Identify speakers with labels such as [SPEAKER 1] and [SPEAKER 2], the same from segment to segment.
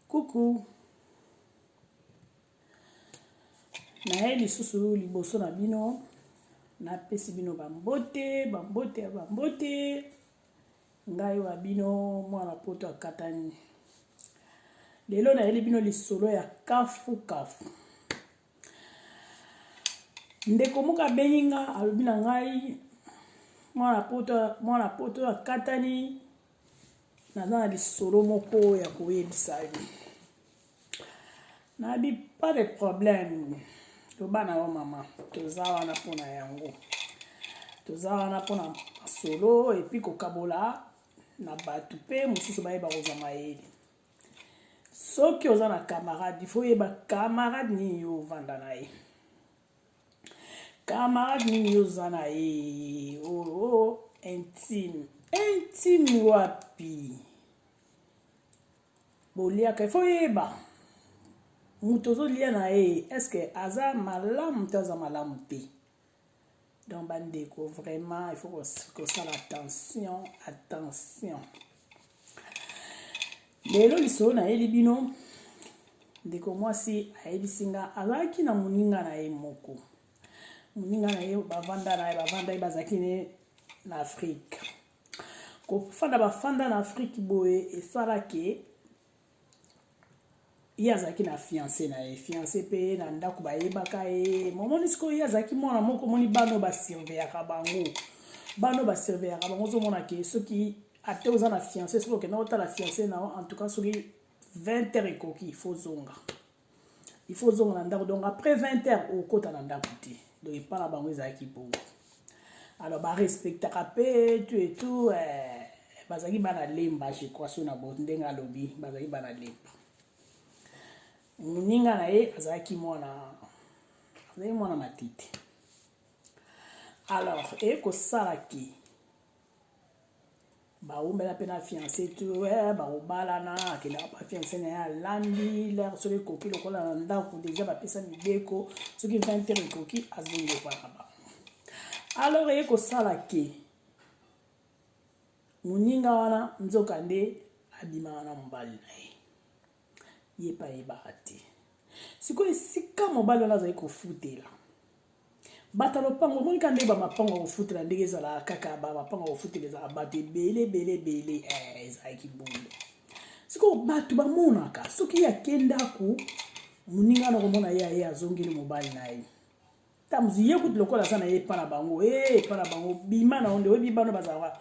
[SPEAKER 1] Coucou. naye lisusu liboso na bino napesi bino bambote bambote ya bambote ngai wa bino mwana poto akatani lelo nayeli bino lisolo ya kafu kafu ndeko moko abengi nga alobi na ngai mwana poto mwana poto akatani naza na lisolo moko ya koyebisa yo nayebi pas de problème loba na yo mama toza wana mpo na yango toza wana mpo na masolo epuis kokabola na bato mpe mosusu bayeba kozwa mayele soki oza na camarade ifo oyeba camarade nini yo ovanda na ye camarade nini yo oza na ye oo oh, oh, oh, intime intime wapi boliaka ifo oyeba moto ozolia na ye eske aza malamu to aza malamu te donc bandeko vraiment il faut kosala attention attention lelo lisolo nayeli bino ndeko mwasi ayebisi nga azalaki na moninga na ye moko moninga na ye bavanda na ye bavanda ye bazalaki ne na afrike kofanda bafanda na afrike boye esalaki ye azalaki na fiance na ye fiance mpe ye na ndako bayebaka ye momoni sikoyo ye azalaki mwana moko omoni bana oyo basurveyaka bango bana oyo basurveyaka bango ozomona ke soki ata oza na fiance soki okenda otala fiance na yo en tout cas soki 20 heures ekoki fozonga il faut ozonga na ndako donc après 20 heures okota na ndako te donc epa na bango ezalaki bongo alors barespectaka mpe tu et tout eh, bazalaki bana lemba je crois so na bo ndenge alobi bazalaki bana lemba moninga na ye azalaki mwana azalaki mwana matete alors eye kosalaki bawumela mpe na fiance tu eh, bakobalana akendaka mpa fiance na ye alandi lere soki ekoki lokola na ndako deja bapesa mibeko soki 20 heure ekoki azongokwaka ba alors eye kosala ke moninga wana nzoka nde abimaka na mobali na ye ye mpe ayebaka te sikoyo esika mobali wana azali kofutela bato ya lopango omoni ka ndenge bamapango ya kofutela ndenge ezalaka kaka bamapango ya kofutela ezalaka bato ebele ebele ebele eh, ezalaki bongo sikoyo bato bamonaka soki ye ake ndako moninga na komona ye aye azongeli mobali na ye tamuzi ye kutu lokola aza na ye epa na bango e eh, epa na bango bima na yo nde oyebi bana bazalaka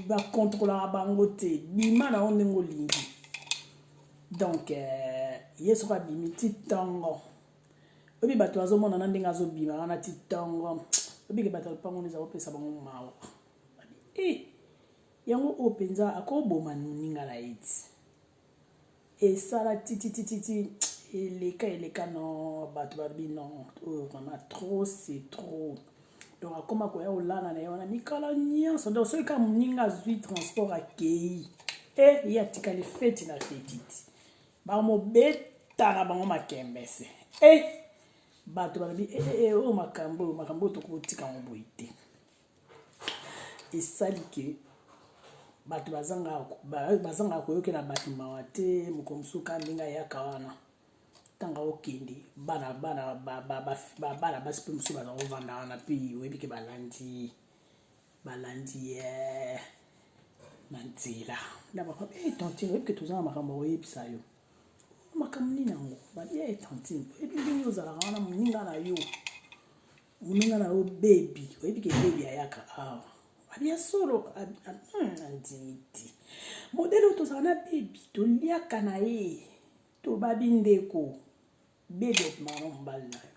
[SPEAKER 1] bakontrolaka bango te bima na yo ndenge olingi donc eh, ye soki abimi ti ntongo oyebi bato bazomonana ndenge azobima wana ti ntongo obike bato ya lopango eza kopesa bango mawa e yango oyo mpenza akoboma moninga na ye ti esala tititititi eleka eleka no bato babi no oyo oh, vraiment trop c'est trop donc akoma koya kolala na ye wana mikolo nyonso donc soki kaka moninga azwi transport akei e eh, ye atikali feti na fetiti bamobeta na bango makembese e eh, bato balobi ee eh, oyo makambo oyo makambo oyo tokotika yango boye te esali ke bato bazangaka koyokela bato mawa te moko mosusu kaka ndenge ayaka wana ntango okende bana bana babana basi mpe mosusu baza kovanda wana mpe oyebi ke balandi balandi ye eh, na nzela na bakaba e eh, tantine oyebi ke toza na makambo akoyebisa yo makambo nini yango babi e eh, tantine oyebi ndenge ozalaka wana moninga na yo muninga na yo bebi oyebi ke bebi ayaka awa abi ya solo andimi hmm, te modele oyo tozala na bebi toliaka na ye tobabi ndeko bebi obimaka mobali na yo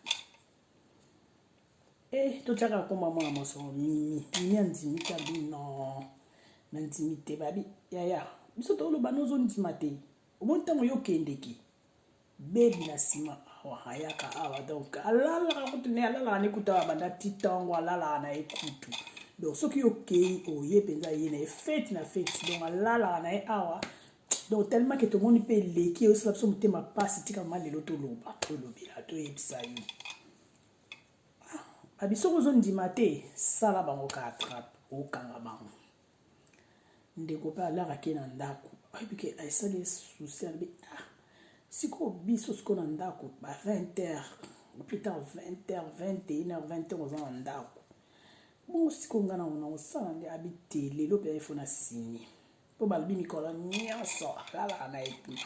[SPEAKER 1] e totyaka akoma mwana masolo mimi mimi andimi te abi no nandimi te babi yaya biso toloba nozondima te omoni ntango yo okendeki bebi na nsima awa ayaka awa donc alalaka kutu ne alalaka ne kutu awa banda ti ntango alalaka na ye kutu donc soki okei oye mpenza ye na ye feti na feti donc alalaka na ye awa donc tellement ke tomoni mpe eleki eyosala biso motema mpasi tika ma lelo toloba tolobela toyebisa yo ah, babiso kozondima te sala bango ka atrape okanga bango ndeko mpe alaka ke na ndako ayebi ke esali ye souci alobi ah sikoyo biso sikoyo na ndako ba 20 heures plus tard 20 heures 21 heures 20 heures oza na ndako bongo sikoyo ngai nango nakosala nde abi te lelo mpe ifo na sini mpo balobi mikolo nyonso alalaka na ye kuna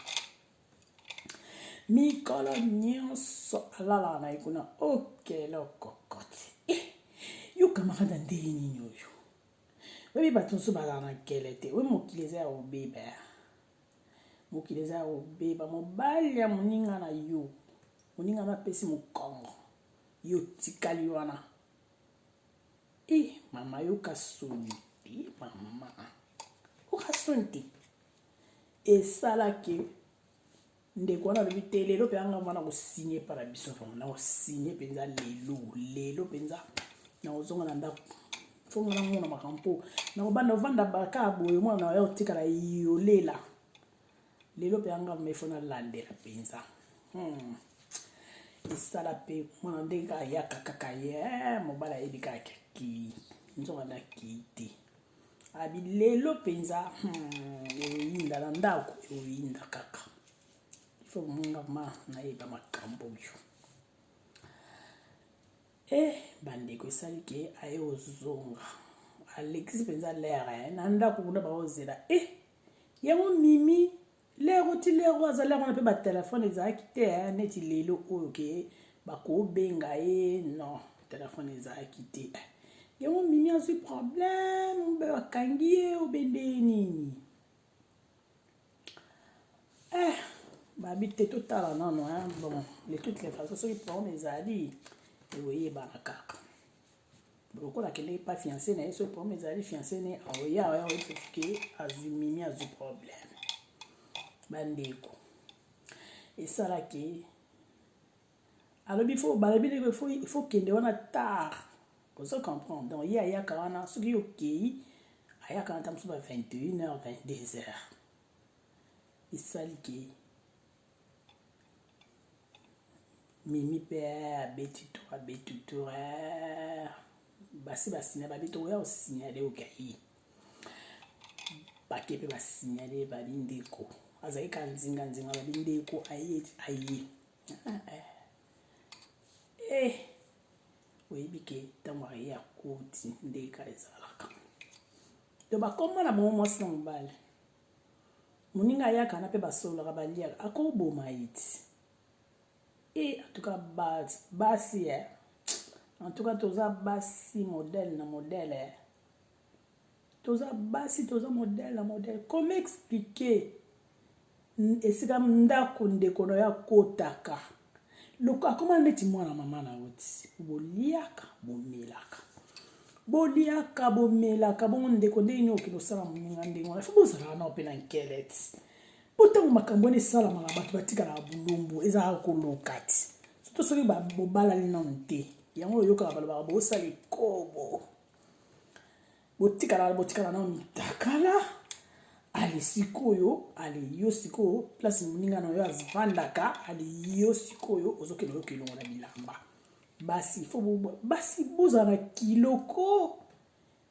[SPEAKER 1] mikolo nyonso alalaka na ye kuna okelokokoti eh, yo kamarada ndenge nini oyo oyebi bato mosusu bazala na nkele te oyebi mokili eza ya kobeba mokili eza ya kobeba mobali ya moninga na yo moninga no apesi mokongo yo otikali wana e mama yoka soni te mama yoka soni te esalaki ndeko wana alobi te lelo mpenza ngai wana kosigne epa na biso vraimen nakosigne mpenza lelo lelo mpenza nakozonga na ndako fo ngai namona makambo mpo nakobanda ovanda baka boye mwana na yo otikala yolela lelo mpenza ngai mefo nalandela mpenza hmm. esala mpe mwana ndenge ayaka kaka ye eh, mobali ayebi kaka kii nzoka nakii te abi lelo mpenza hmm, eoyinda na ndako eoyinda kaka ifo monga ma nayeba makambo oyo e eh, bandeko esali ke aye ozonga alekisi mpenza lere eh, na ndako kuna baozela e eh, yango mimi lero ti lero azalaki wana mpe batelefone ezalaki te eh, neti lelo oyo ke bakobenga ye non telefone ezalaki te eh. yango mimi azwi problème mpe bakangi ye obende nini eh babi te totala nano eh. bon de toute les façon soki problème ezali ekoyebana kaka lokola akendeki mpa fiance na ye soki problème ezali fiance ne aoya oya oyebike azwi mimi azwi problème bandeko esalaki alobi fo balobi ndeko ifo kende wana tard ozo comprendre donc ye ayaka wana soki yo okei ayaka wana ntango mosusu ba 21 heures 22 heures esali ke mimi mpe abeti to abeti to eh, basi basinya babi tokoya kosinyale okai bake mpe basinyale babi ndeko azali ka nzinga nzinga babi ndeko aye aye ah, eh. eh oyebi ke ntango aye akoti nde ka ezalaka to bakoma na bango mwasi na mobali moninga ayaka na mpe basololaka baliaka akoboma ye ti e antuka basi e antuka toza basi modele na modele e toza basi toza modele na modele comme explike esika ndako ndeko na yo akotaka loko akoma neti mwana mama na yo ti boliaka bomelaka boliaka bomelaka bongo ndeko ndenge nini okende osala moninga ndenge wana fo bozalaka nao mpe na nkele ti mpo ntango makambo wana esalamaka bato batikalaka bulumbu ezalaka koloka ti soto soki bobalani nano te yango oyokaka balobaka bosala ekobo botikala botikala nao mitakala ale sikoyo ale yo sikoyo place moninga na yo avandaka ale yo sikoyo ozokende oyoka elongo na bilamba basi fo basi bozala na kiloko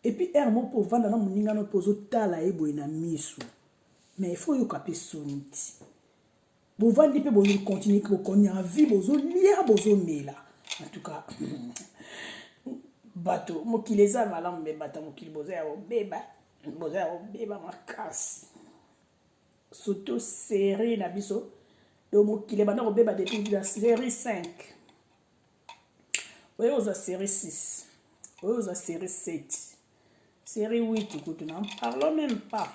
[SPEAKER 1] epuis ere moko mpo ovanda na moninga no mpo ozotala ye boye na miso mais ifo oyoka mpe soni ti bovandi mpe bolingi continue bokonya vie bozolia bozomela en tout cas bato mokili eza malamu mpe bato ya mokili boza ya kobeba boza ya kobeba makasi surtout serie na biso yo mokili ebanda kobeba depuis la serie 5 oyo ozwa serie 6 oyo ozwa serie 7 serie 8 kutu na parlon même pas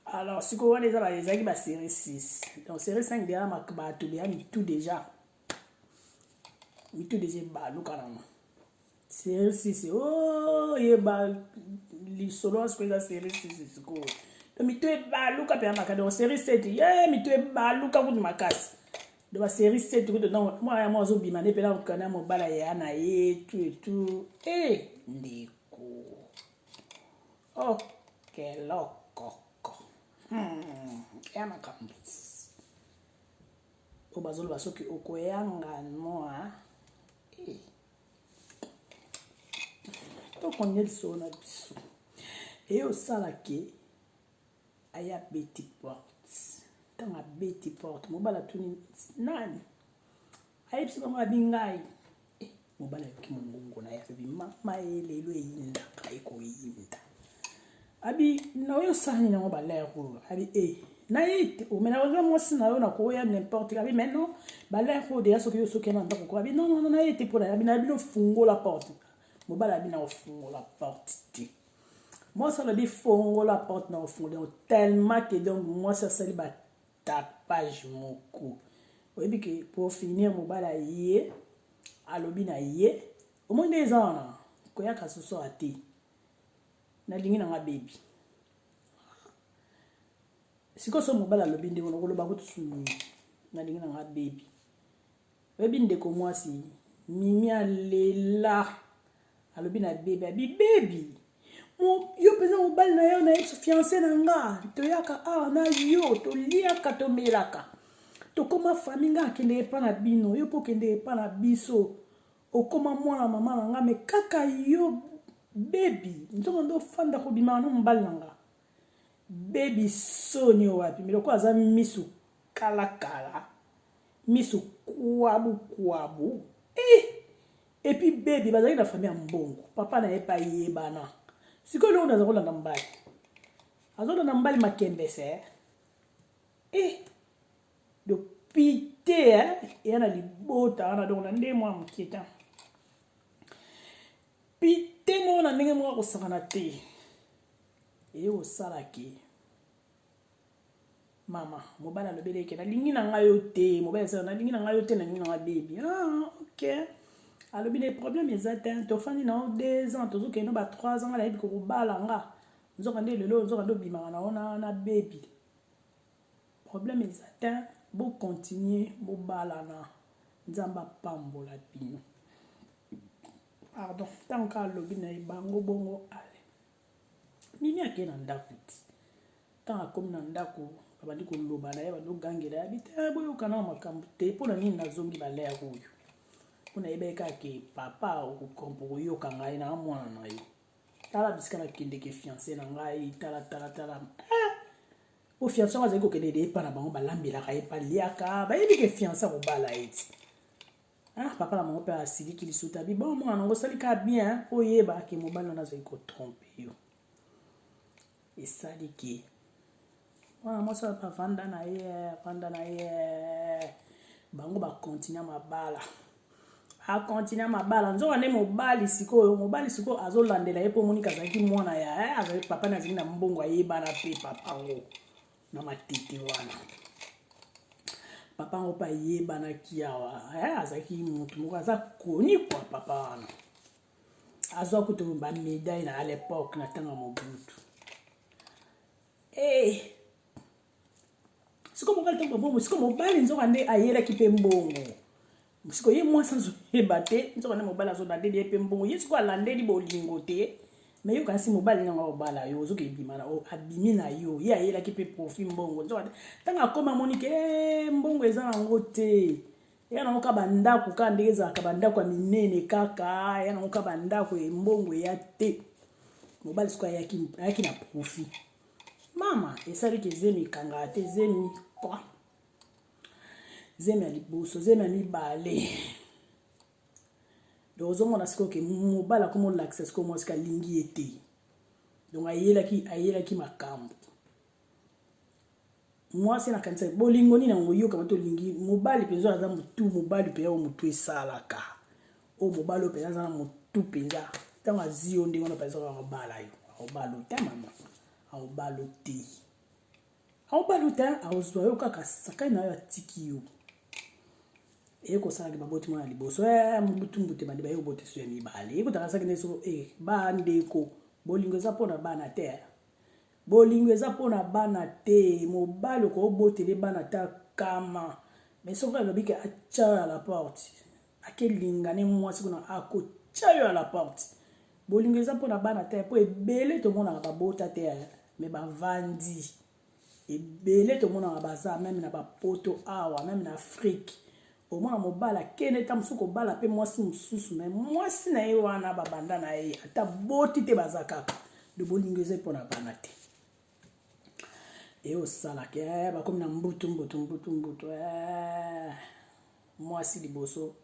[SPEAKER 1] alors sikoyo wana eza ezalaki baserie 6 donc serie 5 deya bato deya mitu deja mitu deja ebalukanama serie 6 o yeba lisolo wana sikoyo eza serie 6 sikoyo to mitu ebaluka mpenza makasi donc serie 7 ye mitu ebaluka kutu makasi donc baserie 7 kutu donc mwana yango azobima nde mpena kokana mobala ya na ye tu etu e eh, ndeko Oh, quel loco. Hmm, ya makambo. Oyo bazoloba soki okoyanga noa. Eh. Tokonde lisolo na biso. Eye osalaki aya beti porte. Ntango abeti porte, mobala tuni nani? ayebisi bango abi ngai eh, mobali ayoki mongongo na ye abi mama ye lelo eyindaka ekoyinda abi na oyo sani nango balere oyo abi e eh, naite omena oh, oza mwasi na yo nakoya n'importe abi mais non balere oyo deya soki yo soki na ndako ko abi non non naite mpo na abi na bino fungola porte mobali abi na ofungola porte te mwasi alobi fongola porte na ofungola tellement que donc mwasi asali ba tapage moko oyebi ke pour finir mobali aye alobi na ye omoni nde eza wana koyaka sosoka te nalingi nanga bebi sikoyo so mobali alobi ndenge nakoloba kutu nalingi nanga bebi oyebi ndeko mwasi mimi alela alobi na bebi abi bebi yo mpenza mobali na yo na ye fiance na nga toyaka awa na yo toliaka tomelaka tokóma fami nga akende epa na bino yo mpo okende epa na biso okóma mwana mama na nga me kaka yo bebi nzongo nde ofanda kobimaka na mobali na nga bebi soni wapi me lokola aza misu kalakala misu kuabu kuabu eh! epuis bebi bazalaki na famille ya mbongo papa na ye mpe ayebana sikoyo eloko naza kolanda mbali azolanda mbali makembese eh? eh! donc pite eh? eya na libota wana donc na nde mwa moke te pite moko na ndenge moko akosakana te eye osalaki mama mobali alobeli eke nalingi na ngai yo te mobali asala nalingi na ngai yo te nalingi na ngai bebi ah, ok alobi na problème eza te tofandi na yo deux ans tozokende ba trois ans nga nayebi kokobala nga nzoka nde lelo nzoka nde obimaka na ona na bebi problème eza te bokontinue bobalana nzambe apambola bino pardon ntango kaka alobi na ye bango bongo ale mimi akei na ndako ti ntango akomi na ndako abandi koloba na ye abandi kogangela ya bite eh, boyokana makambo te mpo na nini nazongi balere oyo mpo nayebaki kaka ke papa okokompo koyoka ngai na mwana na yo tala bisika nakendeke fiance na ngai tala tala tala eh! po fiance yango azali kokende de epa na bango balambelaka ye baliaka bayebi ke fiance akobala ye ti Ah, papa na bango mpe asiliki lisusu abi bon mwana nango osali kaka bien oyeba ke mobali wana azali kotrompe yo esali ke mwana mwasi oyo bavanda na ye avanda na ye bango bakontinue mabala akontinue mabala nzoka nde mobali sikoyo mobali sikoyo azolandela ye mpo monika azalaki mwana ya eh, azali papa na azali na mbongo ayebana mpe papa yango na matete wana papa yango mpe ayebanaki awa eh, azalaki motu moko aza koni kwa papa wana azwa kutu bamedaille na alepoque na ntango ya mobutu hey. Eh, siko mobali ntango babongo siko mobali nzoka nde ayelaki mpe mbongo siko ye mwasi azoyeba te nzoka nde mobali azobandeli ye mpe mbongo ye siko alandeli bolingo te me yoka nsi mobali nde yango akobala yo ozoka ebima na abimi na yo ye ayelaki mpe profi mbongo nzoka te ntango akoma amoni ke eh, mbongo eza nango te eya nango ka bandako kaka ndenge ezalaka bandako ya minene kaka eya nango ka bandako ya mbongo eya te mobali siko ayaki na profi mama esaliki zemi ekangaka te zemi kwa zemi ya liboso zemi ya mibale donc ozomona sikoyo ke mobali akoma olakisa sikoyo mwasi kalingi ye te donc ayelaki ayelaki makambo mwasi nakanisa bolingo nini yango oyokama te olingi mobali mpenza aza motu mobali mpenza oyo motu esalaka oyo mobali oyo mpenza aza na motu mpenza ntango azi yo ndenge wana mpenza akobala yo akobalo te mama akobalo te aobaluta aozwa yo kaka sakani na yo atiki yo eye kosalaki baboti mwana liboso eh, mobutumbute bande baye obota esu ya mibale ye kotakasaki na esoko e eh, bandeko bolingo eza mpo na bana te eh. bolingo eza mpo na bana te mobali okoobotele bana ta kama me soki alobi ke atya ya la porte ake linga ne mwasi kuna akotya yo à la porte bolingo eza mpo na bana te mpo ebele tomonaka babota te eh. me bavandi ebele tomonaka baza meme na bapoto awa meme na afrike omona mobali akende nta mosusu kobala mpe mwasi mosusu me mwasi na ye wana babanda na ye ata boti te baza kaka de bolingo eza mpo na bana te eye osalaka eh, bakomi na mbutu mbutu mbutu mbutu eh, mwasi liboso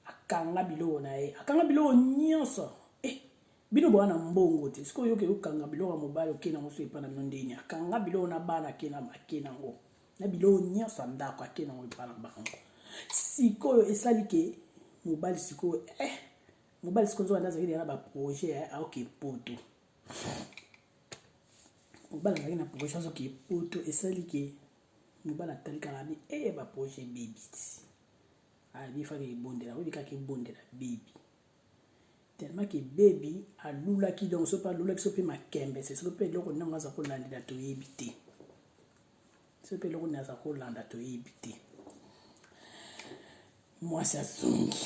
[SPEAKER 1] akanga biloko na ye akanga biloko nyonso eh, bino boa na mbongo te soki oyoki okanga biloko ya mobali oke nango so epa na bino ndeni akanga biloko na bana ake nango na biloko nyonso ya ndako ake nango epa na bango sikoyo esali ke mobali sikoyo eh, mobali sikoyo nzoka nde azalaki deya na baprojet aoke poto mobala azalaki na projet azoki epoto esali ke mobala atali kaka bi e eh, baprojet bebi ti abi ah, faki ebondela oyebi kaka ebondela bebi tellement ke bebi alulaki donc so mpe alulaki so mpe makembe se soki mpe eloko ntango aza kolandela toyebi te biso mpe eloko naza kolanda toyebi te mwasi azongi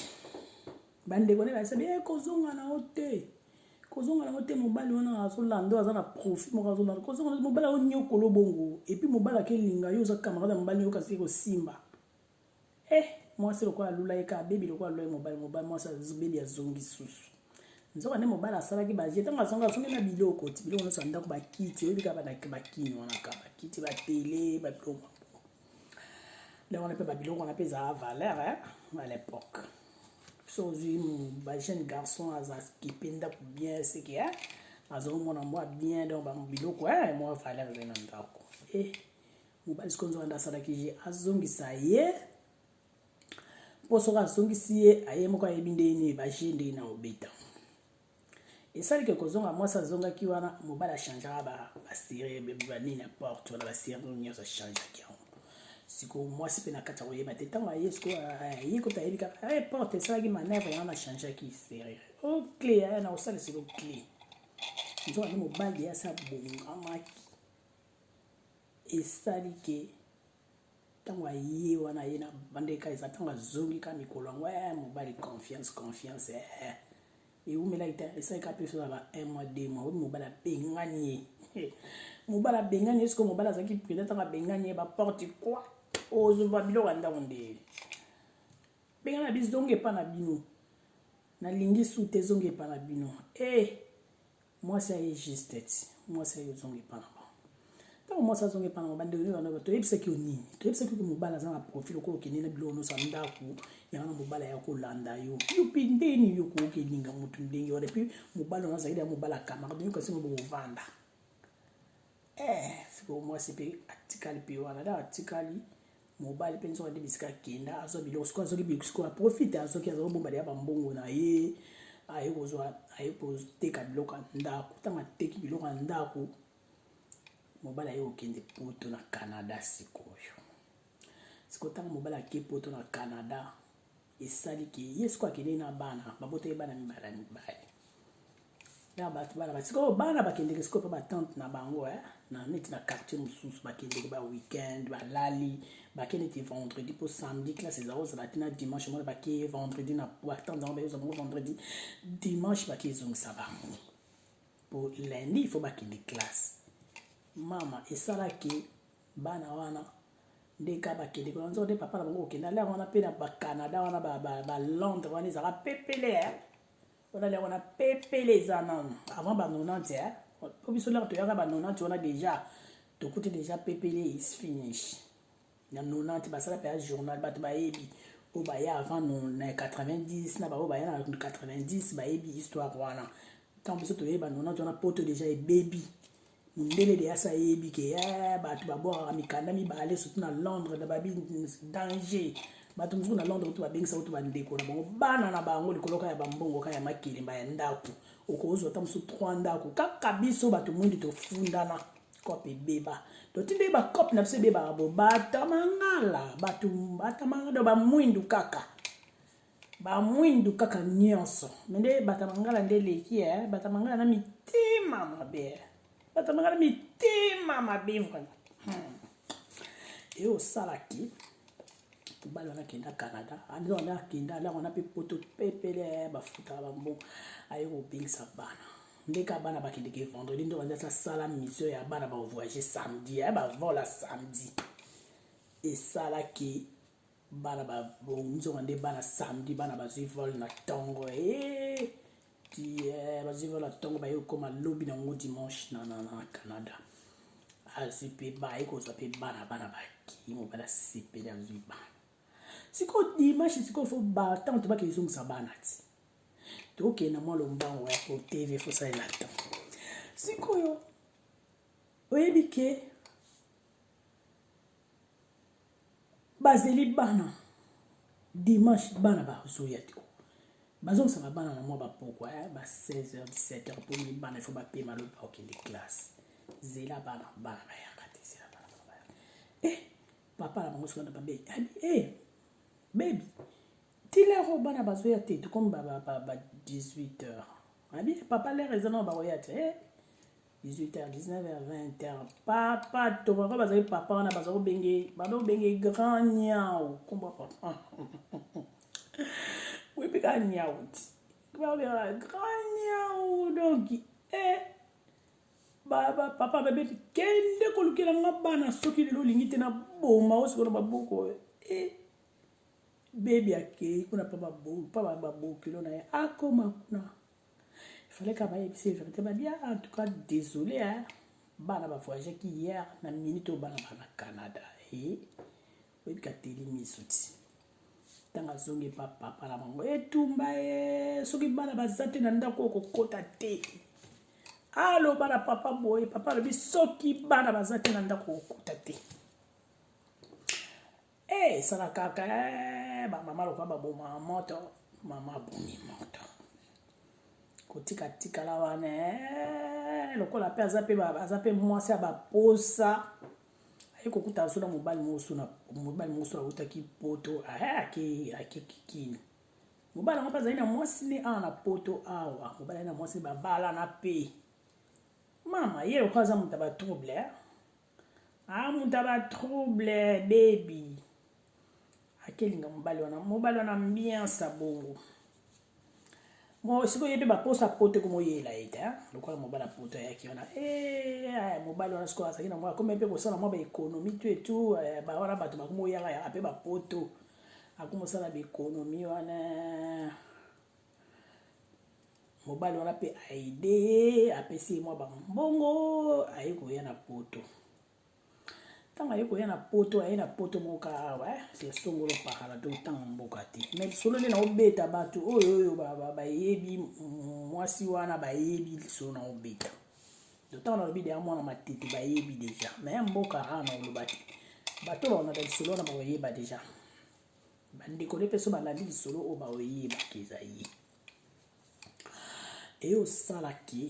[SPEAKER 1] bandeko ne basabi e eh, kozonga na yo te kozonga na yo te mobali wana azolanda oyo aza na profit moko azolanda kozonga mobali aonyokolo bongo epuis mobali akelinga yo oza camarade ya mobali yo kasi ekosimba eh mwasi lokola alula ye kaka bebi lokola alula ye mobali mobali mwasi bebi azongi susu nzoka nde mobali asalaki baje ntango azongi azongi na biloko ti biloko nyonso ya ndako bakiti oyebi kaka na bakini wana ka bakiti batele babiloko nde wana mpe babiloko wana mpe ezalaka valeur eh, à l'époque so ozwi bajeune garçon aza kipe ndako bien seke eh, azongi mwana mwa bien donc babiloko eh, mwa valeur ezali na ndako eh. mobali sikoyo nzoka nde asalaki ye azongisa ye mpo soki azongisi ye aye moko ayebi ndenge nini baje ndenge na obeta esalike kozonga mwasi azongaki wana mobali achangaka basire banini ya porte wana basire nyonso achangaki yango sikoyo mwasi mpe na kati ya koyeba te ntango aye sikoyo aye kota ayebi kaka eh, porte esalaki manevre wana achangaki serire okle oh, aya na kosala sikoyo kle nzoka nde mobali ye asi abongamaki esali ke ntango aye wana ye na bandeka eza ntango azongi ka mikolo yango ya eh, mobali confiance confiance eh, eh. eumelaki te esali ka mpe sozala un mois deux mois oyo mobali abengani ye mobali abengani ye sikoyo mobali azalaki prudent ntango abengani ye baporte kua ozwa biloko ya ndako nde bengana bizonga epa na bino nalingi su te ezonga epa na bino e mwasi aye juste ti mwasi aye ozonga epa na bango ntango mwasi azonga epa na bango bandeko nini bandoba toyebisaki yo nini toyebisaki yo mobali aza na profil okoyo okende na biloko nyonso ya ndako yango na mobali aya kolanda yo yo mpe ndeni yo kokelinga motu ndenge wana epuis mobali wana azalaki ya mobali ya camarade yo kasi ngo bokovanda eh, sikoyo mwasi mpe atikali mpe wana ntango atikali mobali mpe nzoka nde bisika akenda azwa biloko sikoyo azoki biloko sikoyo aprofite azoki aza kobomba deya bambongo na ye aye kozwa aye koteka biloko ya ndako ntango ateki biloko ya ndako mobali aye kokende poto na canada sikoyo sikoyo ntango mobali ake poto na canada esali ke ye sikoyo akendeki na bana babotaki bana mibala mibali na bato bana basikoyo bana bakendeke sikoyo mpe batante na bango eh? na neti na quartier mosusu bakendeke ba weekend balali bake neti vendredi mpo samedi classe eza kozala te na dimanche mona bake vendredi na batante yango bayoza bango vendredi dimanche bake ezongisa bango mpo lundi il faut bakende classe mama esalaki bana wana nde ka bakende kuna nzoka nde papa na bango kokende alia wana mpe na bacanada wana balondre wana ezalaka pepele eh. wana alia wana pepele eza nano avant ba 90 eh. mpo biso laka toyaka ba 90 wana déjà tokuti déjà pepele is finish na 90 basala mpe ya journal bato bayebi oyo baya avant na 90 na baoyo baya na 90 bayebi histoire wana ntango biso toyeba 90 wana poto déjà ebebi mindele de asa yebi ke eh, bato babwakaka mikanda mibale surtout na londres na babi danger bato mosusu na londres kutu babengisa kutu bandeko na bango bana na bango likoloka ya bambongo ka ya makelemba ya ndako okozwa ata mosusu 3 ndako kaka biso bato mwingi tofundana cope ebeba totindeli bacope na biso ebebaka bo batamangala bato batamangala bamwindu kaka ba mwindu kaka nyonso me nde bata mangala nde eleki e eh? bata mangala na mitema mabe eh? bata mangala mitema mabe vraimen hmm. e osalaki mobali wana akenda canada anda wana akenda alaka wana mpe poto pepele eh, bafutaka bambo aye kobengisa bana ndeka bana bakendeke vendredi nde bandi asala mission ya bana bavoyage samedi ya bavola samedi esalaki bana babonzonga nde bana samedi bana bazwi vol na ntongo eh, eh, bazwi vol na ntongo baye kokoma lobi na yango dimanche na, na, na canada azwi mpe baye kozwa mpe bana bana bakei mobali asepeli azwi bana sikoyo dimanche sikoyo fo batante bakei ezongisa bana ti tokende na mwa lombango ya kotv fosalela ntango sikoyo oyebi ke bazeli bana dimanche bana bazoya te bazongisaka bana na mwa bapokwa ya ba 16h 17h mpo mi bana ifo bapema lobi bakokende classe zela bana bana bayaka te zela bana bana bayaka eh papa na bango sokana babe abi eh bebi tilero bana bazoya te tokomi ba 18h abi papa lere eza nao bakoya te eh 18 heures 19 heures 20 heures papa tobaka bazali papa wana baza kobenge bado obenge grand nyau kombo papa oyebi kaka nyau ti babengaka grand nyau donc e eh, papa babeti kende kolukela nga bana soki lelo olingi te na boma o sikoyo na baboko e eh, bebi akei kuna pa babokilo na ye akoma kuna il fallait kaka bayebisa verité babia en tout cas désolé hein bana bavoyageaki hier na minute oyo bana baa na canada e oyebika teli miso ti ntango azongi epa papa na bango etumba ye soki bana baza te na ndako oyo kokota te aloba na papa boye papa alobi soki bana baza te na ndako kokota te Eh, esala kaka eh, bamama lokola baboma moto mama abomi moto kotika tikala wana eh, lokola mpe aza mpe aza mpe mwasi ya baposa aye kokuta aso na mobali mosusu na mobali mosusu autaki poto eh, ake ake kikini mobali yango mpe azali na mwasi ne awa na poto awa mobali azali na mwasi babalana mpe mama ye lokola aza moto ya batrouble ah muta ba trouble baby akelinga mobali wana mobali wana ambiance abongo sikoyo ye mpe baposa poto ekomoyela ye te lokola mobali apoto ayaki wana eh, mobali wana sikoyo azalaki na mwa akomi mpe kosala mwa baekonomi tu etu eh, wana bato bakomoyaka yaka mpe bapoto akomosala baekonomi wana mobali wana mpe aide ye apesi ye mwa bambongo aye koya na poto ntango aye koya na poto aye na poto moko kaka awa eh, sesongolo pakala to ntango mboka te me lisolo nde naobeta bato oyo oyo bayebi mwasi wana bayebi lisolo naobeta ntango nalobi deya mwana matete bayebi deja me mboka aa na oloba te bato baonaka lisolo wana bakoyeba deja bandeko nde mpe so balandi lisolo oyo baoyebaki eza ye eye osalaki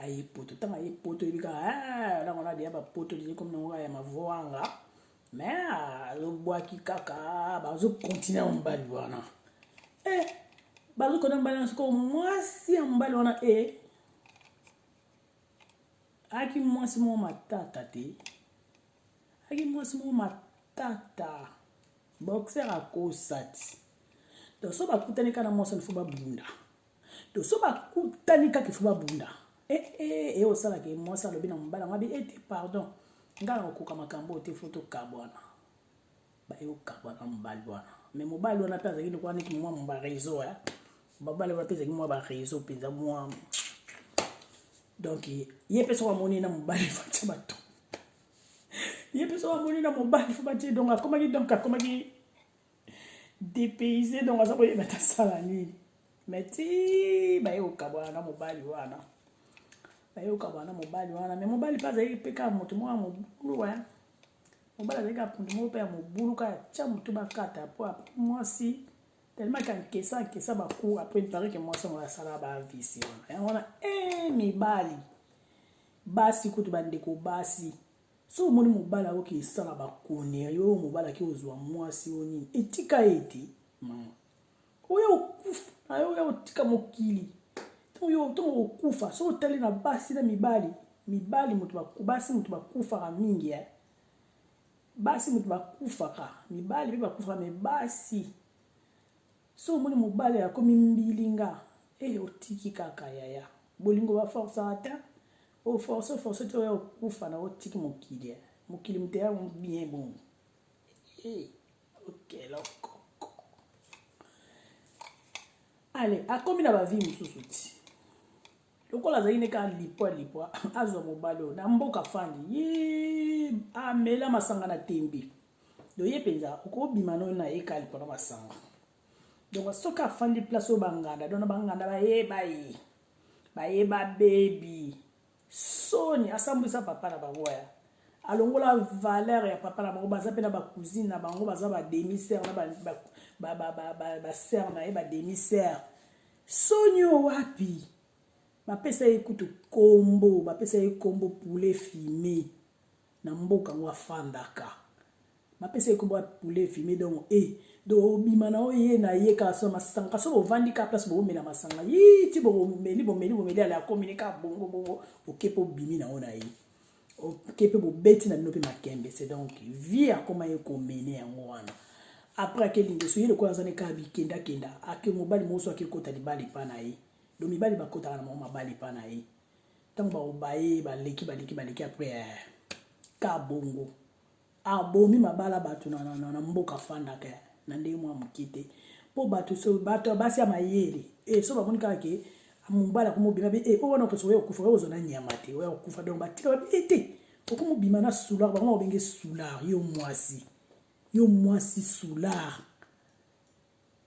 [SPEAKER 1] aye poto ntango aye poto oyebi kaka ah, nango na deya bapoto liye komi nango ya mavoanga me ah, azobwaki kaka bazokontinue na mobali wana e eh, bazokona mobali wana soko mwasi ya mobali wana e eh, ayaki mwasi moko matata te aki mwasi moko matata boxer akosati donc so bakutani kaka na mwasi wana fo babunda donc so bakutani kaka ifo babunda ee eh, eh, eh, osalaka ye mwasi alobi na mobala yango abi ete pardon ngai nakokoka makambo oyo te fo tokabwana baye kokabwana na mobali wana mais mobali wana mpe azalaki lokola neti mwa mwa bareseau ya babali wana mpe ezalaki mwa bareseau mpenza mwa donc ye mpe soko amoni na mobali fatya bato ye mpe soki amoni na mobali fo batie donc akomaki donc akomaki depayse donc aza koyeba ta sala nini mai ti baye kokabwana na mobali wana baye kokabwana na mobali wana mai mobali mpe azalaki mpe kaka moto moko ya mobulu wa mobali azalaki kaka moto moko mpe ya mobulu kaka tya motu bakata mpo apres mwasi tellement ka nkesa nkesa bakour apres mpare ke mwasi yango asalaka bavisi wana yango wana e eh, mibali basi kutu bandeko basi so omoni mobali akoki esala bakone yo oyo mobali ake ozwa mwasi oyo nini etika ye te mama oyo okufa ayo oyo otika mokili ntango yo ntango okufa so otali na basi na mibali mibali moto basi moto bakufaka mingi eh? basi moto bakufaka mibali mpe bakufaka me basi so omoni mobali akomi mbilinga e eh, otiki kaka yaya bolingo baforcaka te oforce oforce te oya okufa na otiki mokili eh. mokili moto ya bien bongo eh, okeloko ale akomi na bavie mosusu ti lokola azali ne kaka lipwa lipwa azwa mobali oyo na mboka fandi ye amela masanga na tembe donc ye mpenza okobima no na ye kali mpona masanga donc soki afandi place oyo banganda donc na banganda bayeba ye bayeba bebi soni asambwisa papa na bango ya alongola valeur ya papa na bango baza mpe na bacousine na bango baza bademi sere na basere na ye bademi sere soni oyo wapi bapesa ye kutu kombo bapesa ye kombo poulet fime na mboka yango afandaka bapesa ye kombo ya poulet fime donc e eh, do obima na oye na ye kaka so masanga kasi ovandi kaka place bokomela masanga yi ti bokomeli bomeli bomeli ala akomi ne kaka bongo bongo oke mpe obimi na yo na ye oke mpe bobeti na bino mpe makembe se donc vie akoma ye komene yango wana apres ake lingeso ye lokola azani kaka bikendakenda ake mobali moso ake kota libala epa na ye do mibali bakotaka na bango mabala epa na ye ntango baobaye baleki baleki baleki apres eh, ka bongo abomi mabala bato na, na, na, na mboka afandaka eh, na ndenge mwa moke te mpo bato so bato ya basi ya mayele e so bamoni kaka ke mobala komobima be e o wana okosoka ya kokufa oyo ozona nyama te oya kokufa donc batika babi e te okomobima na soulard bango bakobenge soulard yo mwasi yo mwasi soulard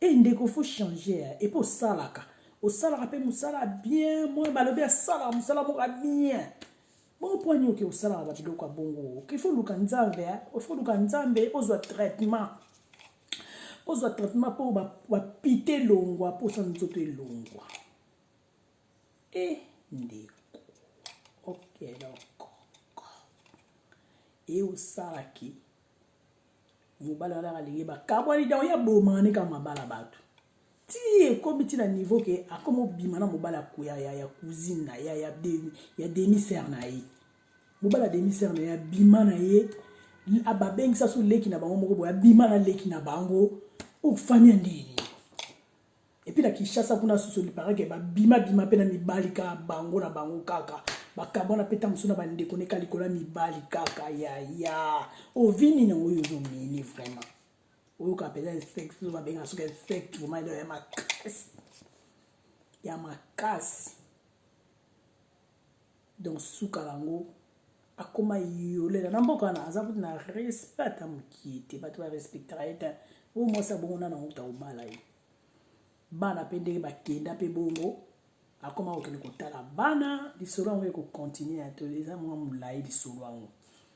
[SPEAKER 1] Eh ndeko faut changer hein. Et puis osalaka. Osalaka pe musala bien. Moi balobi asala musala moko bien. Bon point nyoki osalaka ba biloko ya bongo. Il faut luka nzambe hein. Il faut luka nzambe ozwa traitement. Ozwa traitement po ba, ba pite longwa po sa nzoto elongwa. Eh ndeko. Ok donc. Et osalaki. mobali wana alingi bakabwani dango ye abomaka nde kaka mabala bato ti ekomi ti na niveau ke akomi obima na mobali ya, ya, ya cousine na ya, ya, de, ya demi sere na ye mobali ya demi sere na ye abima na ye babengisa so leki na bango moko boye abima na leki na bango ofamia oh, ndeni epi na kinshasa kuna susu liparake babima bima mpe na mibali kaka bango na bango kaka bakabwana mpe ntango mosusu na bandeko neka likolo ya mibali kaka yaya ovini nango oyo ozomini vraiment oyoka mpenza insect oyo babenga soki insect vraiment ya makasi ya makasi donc suka yango akoma yolela na mboka wana aza kutu na respect ata mokie te bato barespectaka ye te oyo mwasi abongo nana okuta kobala ye bana mpe ndenge bakenda mpe bongo akoma kokende kotala bana lisolo yango ekokontinue ya to eza mwa molai lisolo yango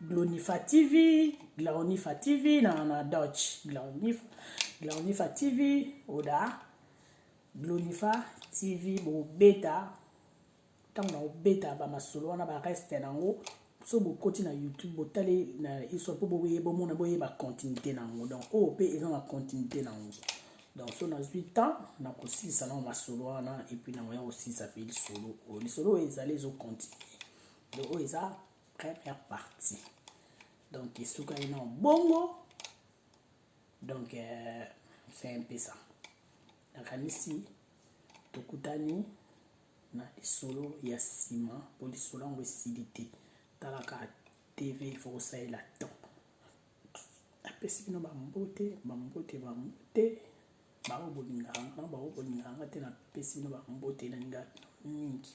[SPEAKER 1] Glonifa TV, Glonifa TV na na Dutch, Glonifa, Glonifa TV oda Glonifa TV bobeta ntango nakobeta bamasolo wana bareste nango so bokoti na youtube botali na histoire mpo boye bomona boyeba continuité na yango donc oyo mpe eza na continuité na yango donc so nazwi temps nakosilisa nango masolo wana epuis nango ya kosilisa mpe lisolo oyo lisolo oyo ezali ezocontinue donc oyo eza première partie donc esukaki na bongo donc euh, c'est un peu ça nakanisi tokutani na lisolo ya nsima mpo lisolo yango esili te talaka tv fokosalela temps apesi bino bambote bambote bambote baobolinganga baobolinganga te napesi bino bambote na ngai mingi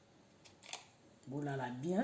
[SPEAKER 1] bolala bien